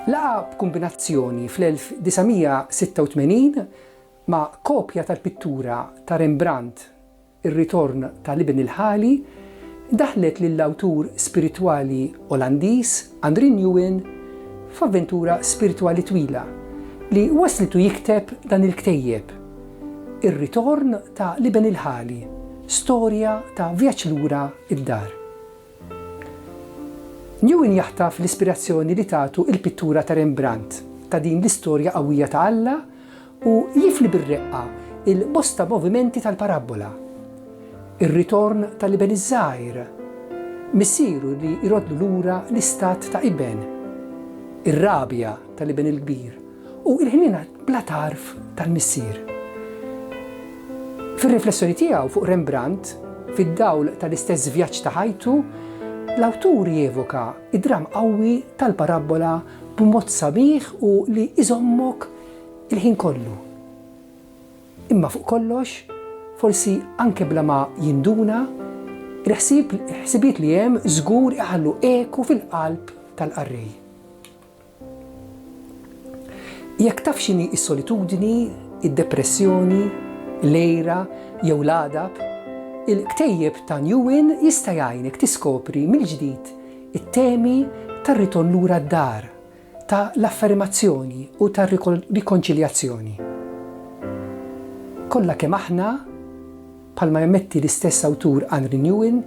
Laqgħa b'kumbinazzjoni fl-1986 ma' kopja tal-pittura ta' Rembrandt Ir-Ritorn ta' l-Iben il-Ħali daħlet lill-awtur spiritwali Olandiż, André Nguyen f'avventura spiritwali twila li wasslitu jikteb dan il-ktejjeb, Ir-Ritorn ta' l-Iben il-Ħali, Storja ta' Vjaġġ Lura d-Dar. Nguyen jaħtaf l-ispirazzjoni li tagħtu il-pittura ta' Rembrandt ta' din l-istorja qawwija ta' Alla u jifli bir-reqqa l-bosta movimenti tal-parabbola, ir-ritorn tal-iben iż-żgħir, missieru li jroddlu lura l-istat ta' iben, ir-rabja tal-iben il-kbir, u l-ħniena bla tarf tal-missier. Fir-riflessjoni tiegħu fuq Rembrandt, fid-dawl tal-istess vjaġġ ta' ħajtu, l-awtur jevoka d-dramm qawwi tal-parabbola b'mod sabiħ u li jżommok Il-ħin kollu. Imma fuq kollox, forsi anke bla ma jinduna, il-ħsieb, il-ħsibijiet li hemm żgur iħallu eku fil-qalb tal-qarrej. Jekk taf x'inhi s-solitudni, id-depressjoni, l-għira jew l-għadab, il-ktejjeb ta' New In jista' jgħinek tiskopri mill-ġdid it-temi tar-ritorn lura d-dar ta' l-afferimazzjoni u tar-rikonċiljazzjoni. Kollha kemm aħna, bħalma jammetti l-istess awtur Anri Nouwen,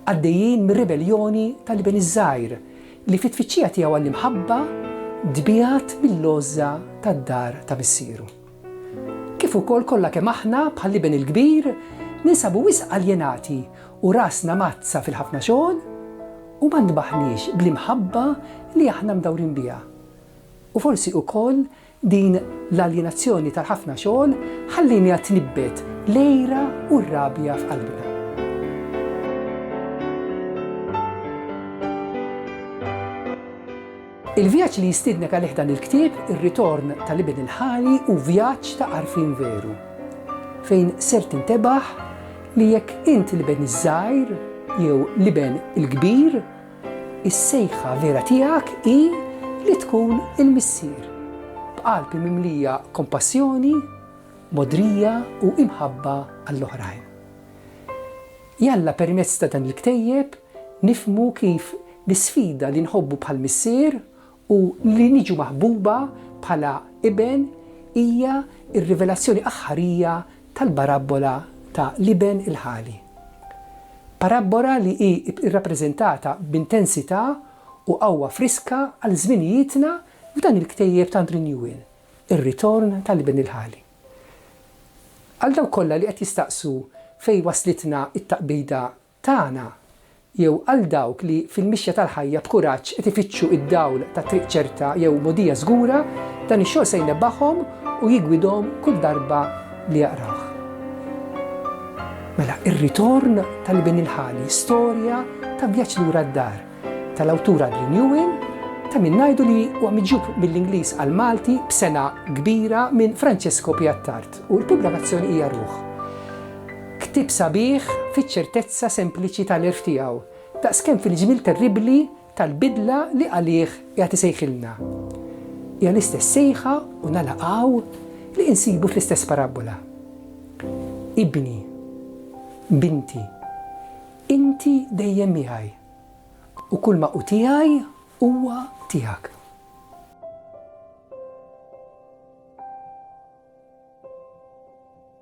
għaddejjin mir-ribelljoni ta' l-iben iż-żgħir li fit-tfittxija tiegħu għall-imħabba tbiegħed mill-għożża tad-dar ta' missieru. kif ukoll kollha kemm aħna, bħall-iben il-kbir, ninsabu wisq aljenati u rasna mgħaddsa fil-ħafna xogħol u ma ntbaħniex bl-imħabba li aħna mdawrin biha. U forsi ukoll din l-aljenazzjoni tal-ħafna xogħol ħallieniha tnibbet l-għira u r-rabja f'qalbna. Il-vjaġġ li jistiednek għalih dan il-ktieb, ir-ritorn tal-Iben il-Ħali hu vjaġġ ta' għarfien veru, fejn ser tintebaħ li jekk int l-iben iż-żgħir jew l-iben il-kbir, is-sejħa vera tiegħek hi li tkun il-missier, b'qalb mimlija kompassjoni, mogħdrija u imħabba għall-oħrajn. Jalla permezz ta' dan il-ktejjeb, Nifhmu kif l-isfida li nħobbu bħal Missier u li niġu maħbuba bħala Iben hija r-rivelazzjoni aħħarija tal-barabbola ta' l-Iben il-Ħali. Parabbola li hi rrappreżentata b'intensità u qawwa friska għal żminijietna f'dan il-ktejjeb tant rinjwien, ir-ritorn ta' l-Iben il-Ħali. Għal dawk kollha li qed jistaqsu fejn waslitna t-taqbida tagħna, jew għal dawk li fil-mixja tal-ħajja b'kuraġġ qed ifittxu d-dawl ta' triq ċerta jew mogħdija żgura, dan ix-xogħol se jnebbahom u jiggwidhom kull darba li jaqrawh. Mela, Ir-Ritorn tal-Ibn il-Ħali, storja ta' vjaġġ lura d-dar, tal-awtur Adrian Ewing, ta' min ngħidu li huwa miġjub mill-Ingliż għall-Malti b'sengħa kbira minn Francesco Piattard u l-pubblikazzjoni hija Ruħ. Ktieb sabiħ fiċ-ċertezza sempliċi tal-għerf tiegħu, daqskemm fil-ġmiel terribbli tal-bidla li għalih qiegħed isejħilna. Hija l-istess sejħa, u nagħlaq hawn, li insibu fl-istess parabbola. Ibni, binti, inti dejjem miegħi, u kulma hu tiegħi huwa tiegħek.